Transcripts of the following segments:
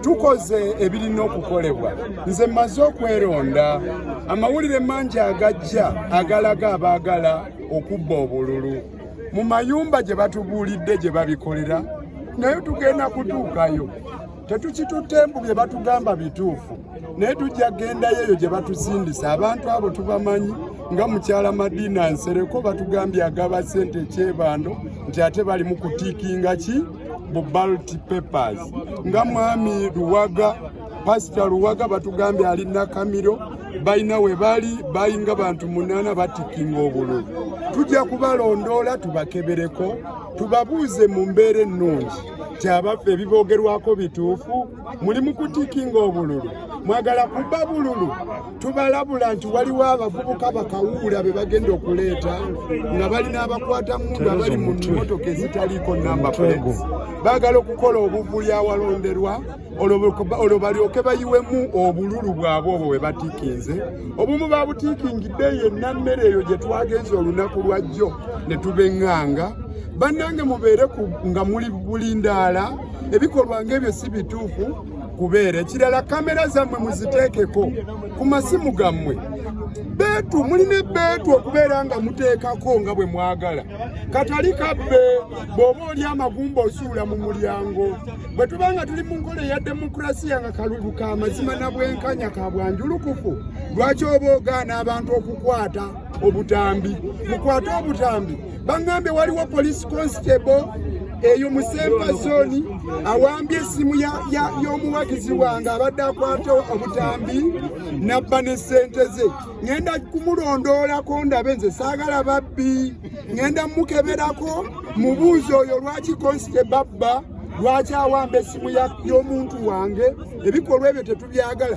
tukoze ebirina okukolebwa nze mmaze okweronda amawulire mangi agajja agalaga abaagala okubba obululu mu mayumba gye batubuulidde gye babikolera naye tugenda kutuukayo tetukitutte mbu bye batugamba bituufu naye tujja gendayo eyo gye batuzindisa abantu abo tubamanyi nga mukyala madiina nsereko batugambye agaba sente ekyebando nti ate bali mu kutiikinga ki bu ballot papers nga mwami luwaga pasita luwaga batugambye ali nakamiro balina we bali bayinga bantu munaana batikinga obululu tujja kubalondoola tubakebereko tubabuuze mu mbeera ennungi kyabaffe ebiboogerwako bituufu muli mukutikinga obululu mwagala kuba bululu tubalabula nti waliwo abavubuka bakawuula be bagenda okuleeta nga balina abakwata mundu abali mu mimotoka ezitaliiko namba plates bagala okukola obuvuli awalonderwa olwo balyoke bayiwemu obululu bwabwe obwo bwe batikinze obumu babutiikingidde yenna mmere eyo gye twagenza olunaku lwajjo ne tubeŋŋanga bannange mubeere nga muli bulindaala ebikolwa ng'ebyo si bituufu kubeera ekirala kamera zammwe muziteekeko ku masimu gammwe beetu mulina ebeetu okubeera nga muteekako nga bwe mwagala katali kabbe bw'oba oli amagumba osuula mu mulyango bwe tuba nga tuli mu nkola eya demokulasiya nga kalulu ka mazima na bwenkanya ka bwanjulukufu lwaki oba ogaana abantu okukwata obutambi mukwate obutambi bangambye waliwo police constable eyo musemba zoni awambye esimu y'omuwagizi wange abadde akwata obutambi nabba ne sente ze ŋenda kumulondoolako ndabe nze saagala babbi ŋenda mukeberako mubuuzi oyo lwaki konsite babba lwaki awamba esimu y'omuntu wange ebikolwa ebyo tetubyagala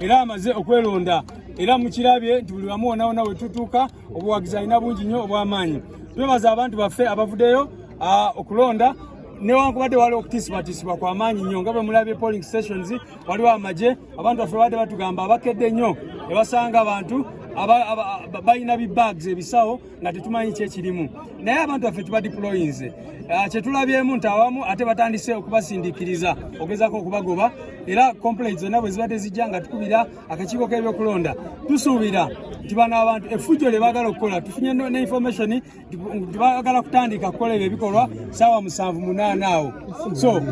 era amaze okwelonda era mukirabye nti buli wamu wonaona wetutuuka obuwagizi alina bungi nnyo obw'amaanyi twebaza abantu baffe abavudeyo okulonda newankubadde waliwo okutiisibwatiisibwa kwa maanyi nnyo nga bwe mulabye polling stations waliwo amagye abantu baffe babadde batugamba abakedde nnyo ne basanga abantu balina bibags ebisawo nga tetumanyi kyekirimu naye abantu baffe tuba diployinze ah, kyetulabyemu nti awamu ate batandise okubasindikiriza ogezako okubagoba era complaint zonna bwe ziba tezijja nga tukubira akakiiko k'ebyokulonda tusuubira nti bano abantu efujjo lye baagala okukola tufunye ne information nti baagala kutandika kukola ebyo ebikolwa saawa musanvu munaana awo so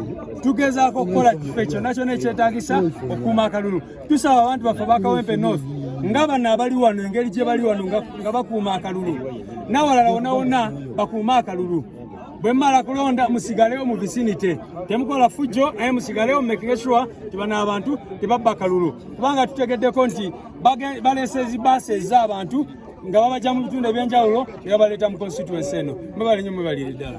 tugezaako okukola kife kyonna kyona ekyetagisa okukuuma akalulu tusaba abantu baffe bakawempe north nga bano abali wano engeri gye bali wano nga bakuuma akalulu nawalala wona wona bakuuma akalulu bwe mmala kulonda musigalewo mu visinite temukola fujjo naye musigalewo mumakinge sure ti bano abantu tebabba kalulu kubanga tutegeddeko nti baleesa ezibaasi ez'abantu nga babajja mu bitundu ebyenjawulo ne babaleeta mu constituensi eno mwebalinyo mwebalire ddala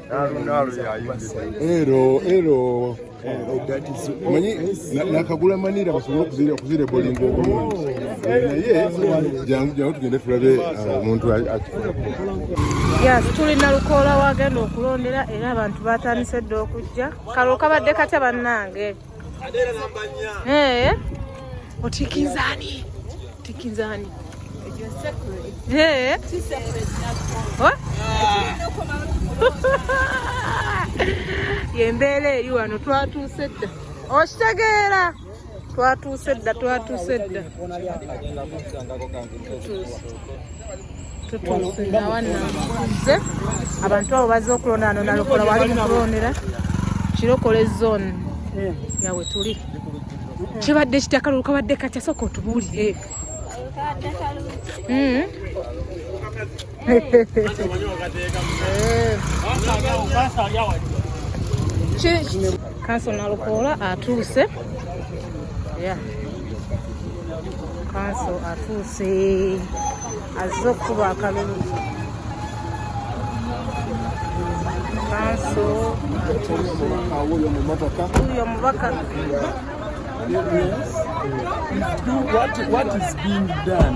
Ero ero manyi nakagula manira basobole okuzira okuzira ebolingo obulungi naye jangu jangu tugende tulabe uh, omuntu yes tulina lukoola wagenda okulondera era abantu batandise dda okujja kalo kabadde katya bannange Eh. Otikinzani. Otikinzani. Eh. What? Yembeera eri wano twatuuse dda. Okitegeera? Twatuuse dda, twatuuse dda. Twatuuse. tutuuse nawananze abantu abo baze okulonda ano nalokola wali mukulondera kirokole zone eh. yawe tuli kibadde kitya kalulu kabadde katya soka otubuulire hmm? kanso nalukoola atuuse yeah. kanso atuuse azze okukuba akalulu kanso wuyo omubaka What, what is being done?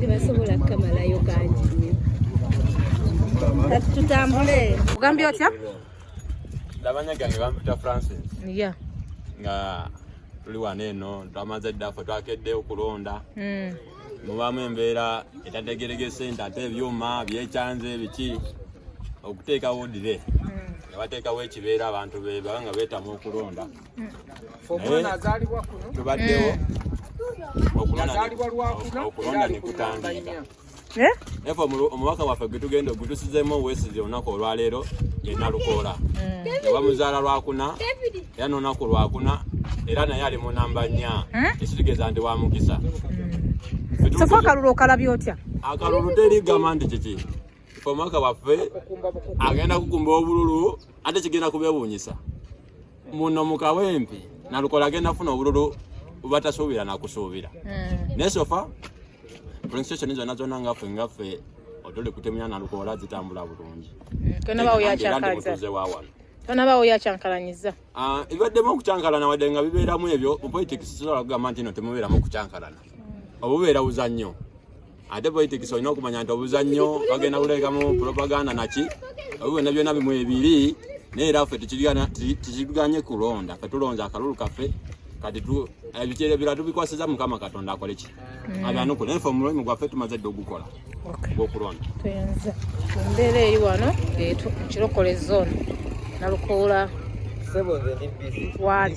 tebasobola kukamalayo kangi kati tutambule ogambye otya labanya gange bampita francis ya nga tuli wano eno twamaze ddaffe twakedde okulonda hmm. mubamu embeera etategeregese nti ate ebyuma byekyanze biki okuteekawo dire hmm. nebateekawo ekibeera abantu bebanga betamu okulonda omwana azaalibwa kuno tubaddewo yazaalibwa lwakuna era ali ku namba nnya Eh? Efa omubaka waffe gwe tugenda ogutusizeemu owesize olunaku olwaleero yena lukoola nga mm. bamuzaala lwakuna era nolunaku lwakuna era naye ali mu namba nnya eh? ekitegeeza nti wa mukisa mm. sofa akalulu okalabya otya akalulu teri gamba nti kiki omubaka waffe agenda kukumba obululu ate kigenda kubewuunyisa muno mu kawempe nalukola agenda funa obululu batasuubira nakusuubira hmm. naye sofa prostitution zonna zonna ngaffe ngaffe otuli kutemya nalukola zitambula bulungi kanabaoyakyakaza wawano tanabawo yakyankalanyiza ah, ebibaddemu okukyankalana wadde nga bibeeramu ebyo mu politics tusobola kugamba nti no temubeeramu okukyankalana obubeera buzannyo ate politics olina okumanya nti obuzannyo bagenda kulekamu propaganda naki ebyo byonna byonna bimu ebiri naye era ffe tekiganye kulonda fe tulonze akalulu kaffe kati ebikere bira tubikwasiza mukama katonda akoleki mm. abyanukule naye fe omulimu gwaffe tumaze dde ogukola gwokulonda tuyenze embeera eri wano ekirokole zone nalukoola wali